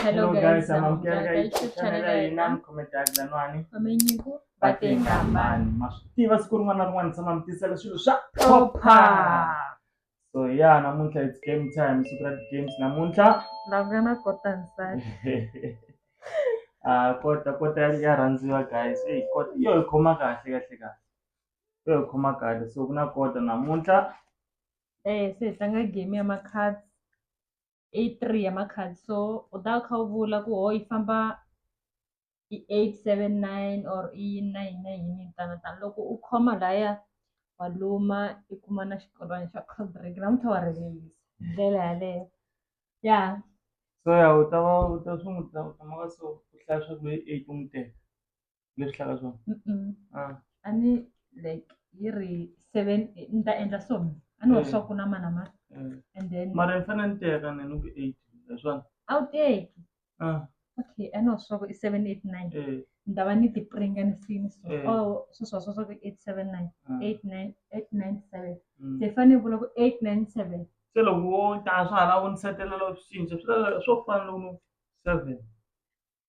Hello Hello guys, guys, I'm I'm Kiara Kiara Gaichu, Gaichu, channel channel ya ya Inam, Inam. comment ya Glanwani. Wamenyiku Batenga mbani. Mashutiva siku rin'wana na rin'wana tshama mi tisela swilo swa Opa. So yeah, namuntlha it's game time, siku ra games namuntlha. Langana kota nsati. Ah, kota kota ya- ya rhandziwa guys. Hey, kota yo hi khoma kahle kahle kahle. Yo hi khoma kahle. So ku na kota namuntlha. Eh, se hi tlanga game ya makhadi. i three ya makhadi so u ta kha u vula ku ho yi famba i eight seven nine or i yini na yini na yini tano tano loko u khoma laya wa luma i kuma na xikolwana xa cold drink namuntlha wa rivelisa hi ndlela yaleyo ya so ya u ta va u ta sungula u ta maka so u hlaya swa ku hi eight u n'wi teka. leswi hlaka swona ah. a ni like yi ri seven ni ta endla so a ni wa eh. swa ku na mana ma eh. and then mara ni fanele ni teka ni ni ku eight hi swona a wu teki ah. okay a ni wa swa ku i seven eight nine eh. ni ta va ni tipringa ni fini so oh sweswa swa swa ku eight seven nine ah. eight nine eight nine seven mm. se fanele vula ku eight nine seven se loko wo ta swa hala u ni setelela swi cinca swi swo fana loko seven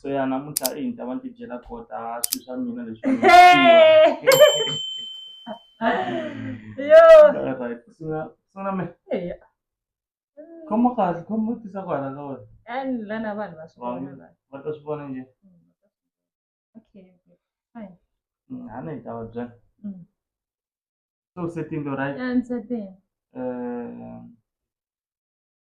so ya namuntlha i ni ta va ni ti byela kota swilo swa mina leswi yo right sungula sungula me eya khoma kahle khoma tisa ku hala ka wena and lana vanhu va swi vona la. va ta swi vona njhe okay fine Mm, a ni hi ta va byela Mm. so setini right and certain Eh,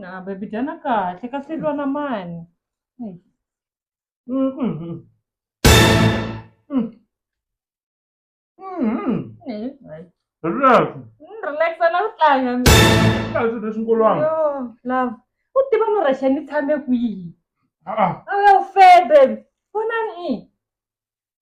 na baby dyana kahle ka feriwa na mani relax relax na ku tlanga kahle leswi nkolwana love u tiva no rexha ni tshame kwihi a ya u febe vonani i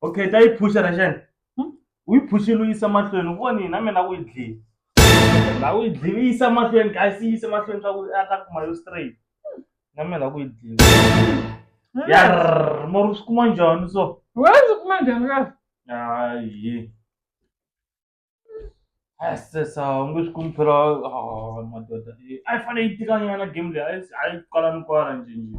okay ta yi phusha na xana hmm? u yi phuxile u yisa mahlweni u voni na mina u yi dlile la u yi dlile u yisa mahlweni kasi yi yise mahlweni swa ku a ta kuma yo straight hmm. na mina la ku yi dlile hmm. yar mara u swi kuma njhani so wa swi kuma njhani kasi ayi sesa u nge swi kumi phela ah, madoda a yi fanele yi tikanyana game leyi a yi kwala ni kwala njhenjhe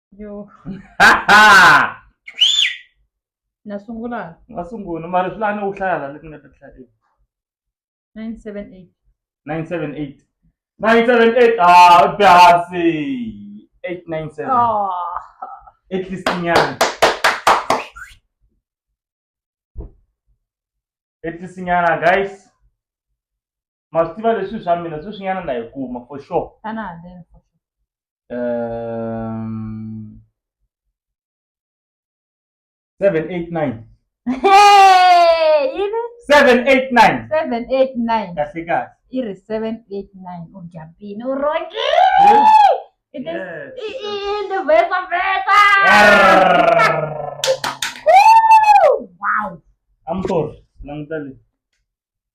yo na sungula nga sungula mara swi lani u hlaya la leti nga ta hlaya eku 978 978 978 ah u byasi 897 oh. at least nyana at least nyana guys ma swi tiva leswi swa mina sweswinyana na yi kuma for sure xana haleni for sure um, 789 Hey, yini 789 seven eight nine kahle kahle i ri seven eight nine u jampini u rhongile i ti- Yes. i- i- i ti vesa vesa Woo! wow I'm sorry languta le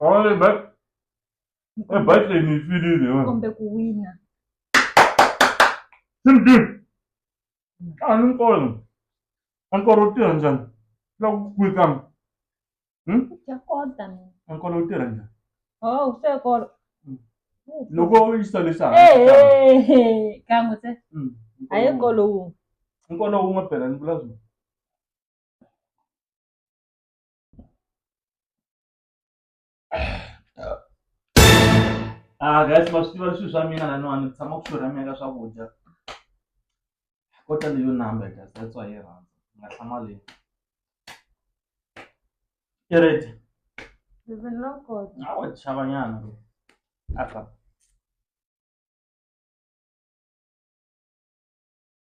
Only but e battle ni fili ni wa. Kombe kuwina. Simbi. Ani nkolo. Ankoro tirha njani? Loko ku kwika. Hmm? Ya kota ni. Ankoro tirha njani? Oh, se kolo. Hmm. Loko u yisa leswaku. Eh, eh, eh, kan'we se. Hmm. A ye kolo wun'we. Nkolo wun'we phela ni vula swona. Ah guys ma swi tiva leswi swa mina laniwani ni tshama ku xurhamiwa ka swakudya ko tale yo number guys that's why yi rhandza ni nga hlamali i ready a wa chava nyana aka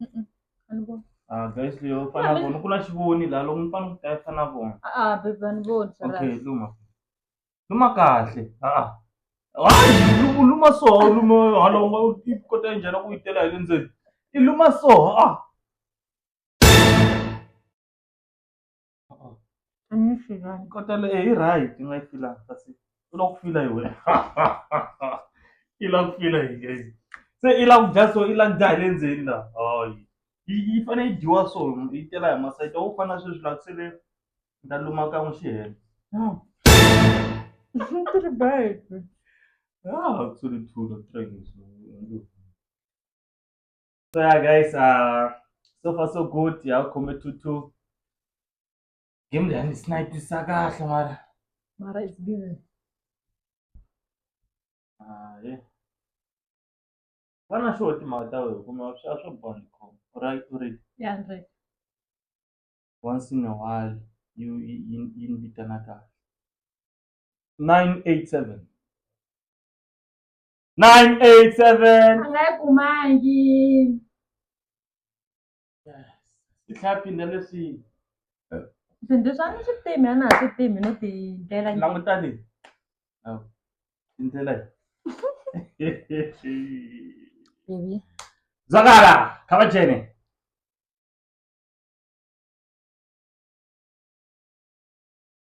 Mm-mm. a ni voni Ah, guys leyo fana Mami. vona ku na xivoni la loko mi fana ku ta fana vona a a bebe a ni voni okay Sarah. luma luma kahle ah hayi luma luma so luma hala u nga u ti kota njhani ku yi tela hi le ndzeni i luma so ah Can you feel right? Kotela eh hi right nga yi fila kasi u lava ku fila hi wena. I lava ku fila hi guys. Se i lava ku dya so i lava ku dya hi le ndzeni la. Hayi. Yi yi fanele yi dyiwa so yi tela hi masayiti. A wu fana sweswi la ku sele ni ta luma kan'we xi hela. Ti ri baby. Ah, ku sele two or three. so yeah guys uh so far so good ya u khome two two game leyi a ni snipisa kahle mara mara it's busy hayi va na xo timhaka ta wehe kuma swa swo bond com right u ri ya ndzi once in a while you yi yi- yi ni vitana kahle nine eight seven 987 a nga yi kumangi swi tlhapini na leswi swilo leswi a ni swi timi a na ha swi timi no ti ndlela njhe. langutani Awu, i ndlela yi Baby. zwakala kha va jene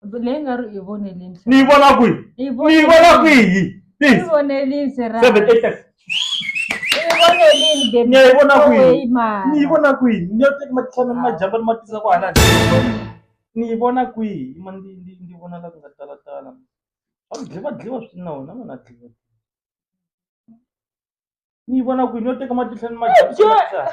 leyi nga ri i vonelini ni yi vona kwihi ni yi vona kwihi i vonelini serani seven eight nine ni ya yi vona kwihi ni yi vona kwihi ni yo teka matihlana ni majamba ni ma tisa ku halani ni yi vona kwihi ma ndi ndi ndi vona la ku nga talatala va dliva dliva swi na wona ma na dliva ni yi vona kwihi ni yo teka matihlana ni majamba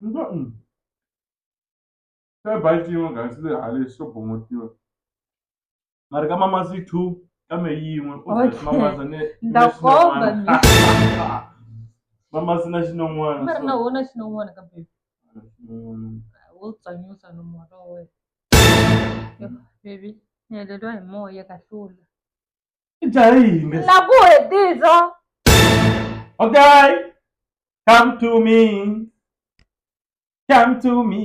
Nto nngwe ka Baltimore gansi le halesi swo bomotiwa. Mari ka mamazi two ka me yin'we u Okay. byela mamazi ne Ndza ne komba xinon'wana. mamazi na xinon'wana mari na so- wona xinon'wana ka baby Mm. wo tsanyusa no moya wa wena baby ni heleriwa hi moya kahlula i dzaha yini na ku hetiza okay come to me come to me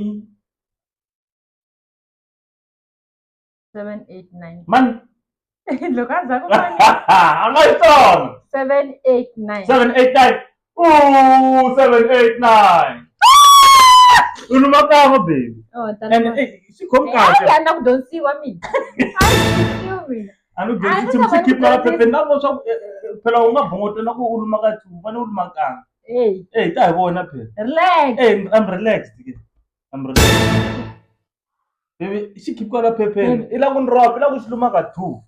789 mani loko a za ku a nga yi tsona 789 789 Ooh, seven, eight, nine. U luma kan'we baby. Oh, And tani. eh, swi khomi Hayi kahle. ya na ku dyondzisiwa mina. A yi dyondzisiwi mina. A ni dyondzi nchumu swi khipha la phepeni na vona swa ku eh, eh, phela u nga bongoto na ku u luma ka two, u fanele u luma kan'we. Hey, Eh, ta hi vona phela. relax. Eh, I'm relaxed. ke. I'm relaxed. Baby, xi khipha la phepeni. I la ku ni ropa, i la ku xi luma ka two.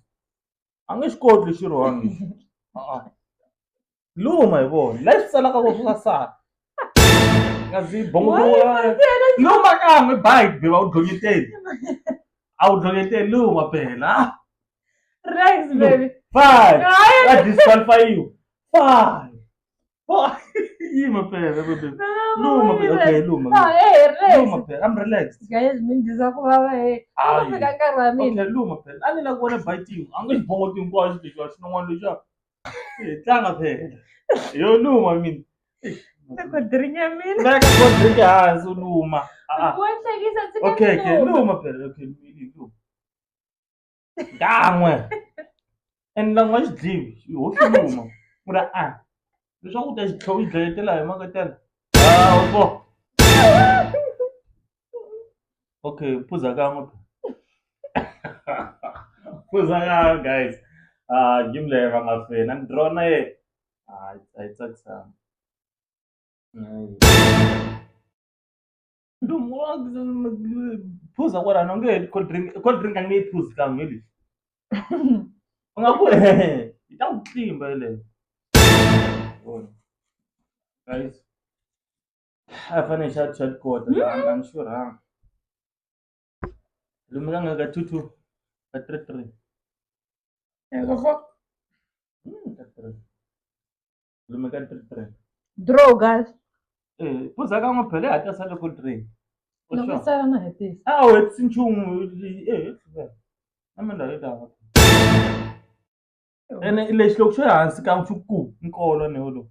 A nge xi koti lexi rhongi. Ah, ah. luma hi vona la swi tsalaka ko swi sasana nga ndzi bongolowa luma kan'we bayi be va wu dlonyeteli a wu dlonyeteli luma phela relax baby five va disqualifayiwa five yima phela baby luma phela okay luma luma phela i'm relaxed guys mi ndiza ku vava he ku fika nkarhi wa mina okay luma phela a ni la ku vona bayi tin'we a nge xi bongo tin'we ku a xi lexi a xi n'wana lexi Hi tlanga phela. Yo luma mina. Loko drink ya mina. Veka ko drink hansi u luma. Ah. Wa hlekisa ndzi ka Okay, okay, luma. luma phela. Okay, mili luma. Kan'we. And lan'wa xi dliwi. Ho xi luma. Ku ri a. Leswaku u ta xi tlhe u yi dlayetela hi mhaka tela. Ah, u twa. Okay, phuza kan'we. Phuza kan'we guys. Ah, game leyi va nga fina. Ni draw na yena. Hayi, a yi tsakisanga. phuza kwalano nge heti cold drink cold drink a nge yi phuzi kan'we hi lexi u nga ku yi ta ku tlimba yeleyo guys I fanele xa chat code I'm, I'm sure ha lomu ka nga ka two two ka three three lomu ka three three draw guys eh puza ka n'wi phele hata sa loko three loko sala na hetisa a wu hetisi nchumu eh na mina yi ta ene lexi loko xo hansi ka nchuku nkolo ni wolowo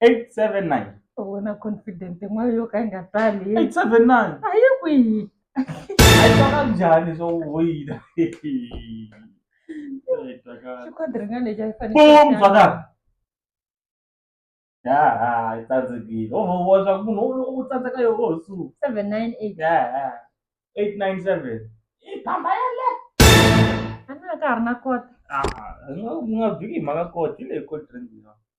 879 u vona confident yin'wana yo ka yi nga tali 879 a yi kwihi a yi twaka njhani swo wina xikhodi rin'wana lexi a yi fanele bum baka ya ha yi tsandzekile o vona swa ku munhu u tsandzeka yo o su 798 ya ha 897 i phamba ya le a na ka ha ri na kota a nga nga viki hi mhaka koti leyi koti rindzina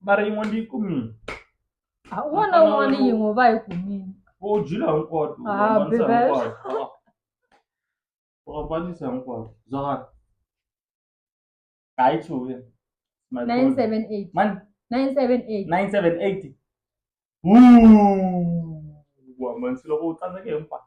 mara yin'we ndi yi kumile Ah, un'wana na un'wana yin'we va yi kumile vo dyila hinkwato u Ah, hambanisa bebe. hinkwato u hambanisa hinkwato zwakala hayi chuya 978 mani 978 978 Ooh, u hambanisile ku u tsandzeke hinkwato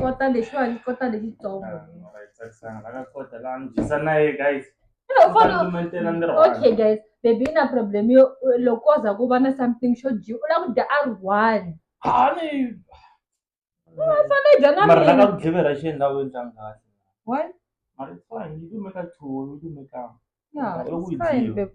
kota lexiwani kota lexitsongo okay guys baby na problem yo loko ko za ku va na something xo dyiwa u lava ku dya a ri one fane dya na mara laka ku dlivera xi endlawini xa ngati one mara it's fine you do make a two you do make a yeah it's fine baby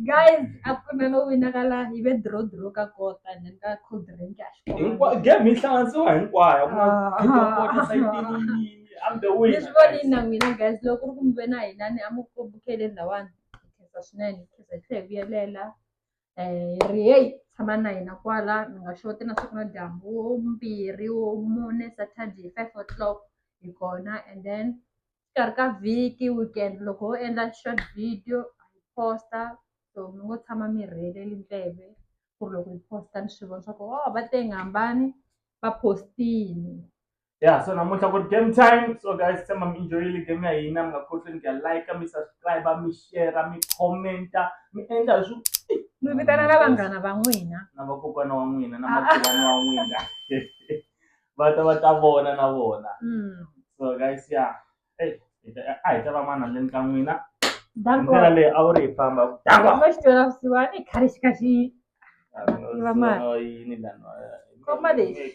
Guys, a ku na no winakala hi ve draw draw ka kota and then ka cold drink a xi hinkwa kona. game yi hlanganisiwa hinkwayo ku na Ah. kota kota sayitini yini I'm the winner, Leswi voni guys. na n'wina guys loko ku ri ku mi ve na hina ni a mu ku bukele lawani hi khensa swinene hi khensa hi tlhe hi vuyelela um ri heyi tshama na hina kwala mi nga xoti na siku na dyambu wo mbirhi wo mune saturday five o'clock hi kona and then Exikarhi ka vhiki weekend loko ho endla short video hi post-a so mi ngo tshama mi rheleli ndleve ku ri loko hi post-a ni swi vona swa ku o va tenge hambani va post-ini. Yeah, so namuntlha ku ri game time so guys tshemba mi enjoyile game ya hina mi nga khohlweni ku ya like mi subscribe mi share mi comment-a mi endla hi swi Mi vitana na vanghana va n'wina. na vakokwana wa n'wina na makhelwani wa n'wina va ta va ta vona na vona so guys ya eyi hi ta a hi ta va mani handleni ka n'wina hi ndlela leyi a wu ri hi famba dakwa va xi twela vusiwana i khale xi kha xi Tiva mali. So, yini lana Khoma lexi.